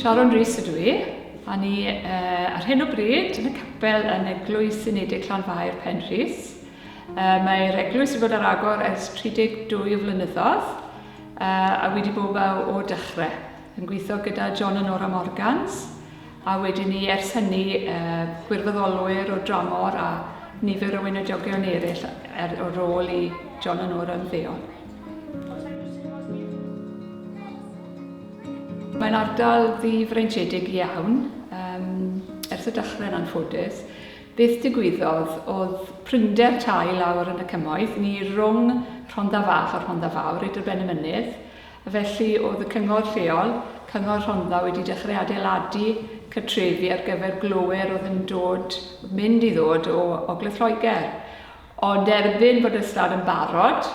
Sharon Rees ydw i, a ni uh, ar hyn o bryd yn y capel yn Eglwys Unedig Llanfair Penrhys. Uh, Mae'r eglwys wedi bod ar agor ers 32 o flynyddoedd uh, a wedi bod o dechrau yn gweithio gyda John a Nora Morgans A wedyn 'ny ers hynny gwirfoddolwyr o dramor a nifer o weinidogion eraill ar ôl i John a Nora ymddeol. Mae'n ardal ddi-freintiedig iawn, um, ers y dechrau yn anffodus. Beth digwyddodd oedd prinder tai lawr yn y cymoedd, ni rhwng Rhondda Fach a Rhondda Fawr, i dryben y mynydd, Felly, oedd y cyngor lleol, Cyngor Rhondda wedi dechrau adeiladu cartrefi ar gyfer glowyr oedd yn dod, mynd i ddod o Ogledd Lloegr. Ond erbyn bod y stad yn barod,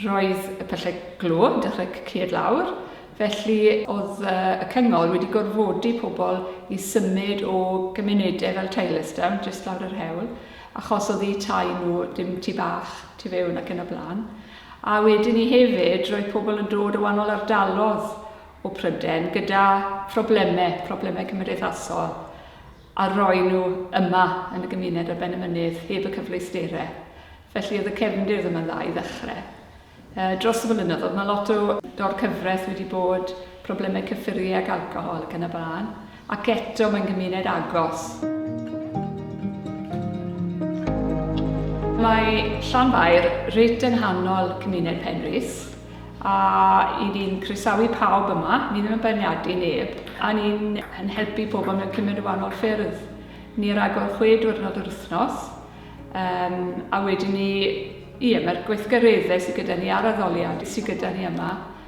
roedd y pyllau glo yn dechrau cycied lawr, felly oedd y cyngor wedi gorfodi pobl i symud o gymunedau fel Tylorstown, jyst lawr yr hewl, achos oedd eu tai nhw dim tu bach tu fewn ac yn y blaen. A wedyn 'ny hefyd, roedd pobl yn dod o wahanol ardalodd o Pryden gyda phrobleme, problemau cymdeithasol, a roi nhw yma yn y gymuned ar ben y mynydd, heb y cyfleustere. Felly oedd y cefndir ddim yn dda i ddechrau. Uh, dros y blynyddoedd, mae lot o dorcyfraith wedi bod, problemau cyffuriau ac alcohol ac yn y blaen. Ac eto mae'n gymuned agos. Mae Llanfair reit yng nghanol cymuned Penrhys a i ni'n croesawu pawb yma, ni ddim yn beirniadu neb, a ni'n yn helpu pobl mewn cymuned o wahanol ffyrdd. Ni ar agor chwe diwrnod yr wythnos, um, a wedyn ni, ie, mae'r gweithgareddau sydd gyda ni a'r addoliad sydd gyda ni yma,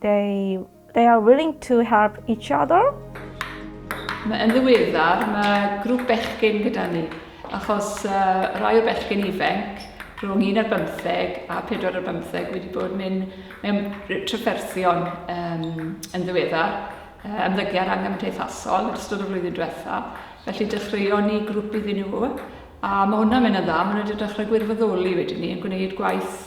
They, they are willing to help each other. Yn ddiweddar, mae grŵp bechgyn gyda ni, achos uh, rai o bechgyn ifanc, rhwng un ar bymtheg a pedwar ar bymtheg, wedi bod mynd mewn trafferthion um, yn ddiweddar, uh, ymddygiad anghymdeithasol yn ystod y flwyddyn diwethaf. Felly dechreuon ni grŵp iddyn nhw, a mae hwnna'n mynd yn dda, maen nhw wedi dechrau gwirfoddoli wedyn ni, yn gwneud gwaith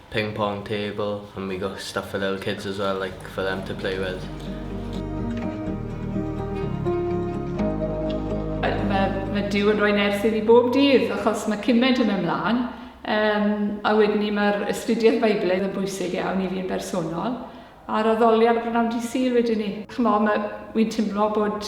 Ping pong table and we got stuff for little kids as well like for them to play with. Mae ma Duw yn rhoi nerth i fi bob dydd achos mae cymaint yn mynd mlaen. Um, a wedyn ni mae'r ystudiaeth Beiblaidd yn bwysig iawn i fi'n bersonol a'r addoliad y brynawn di syl wedyn ni. Chymol, mae wy'n teimlo bod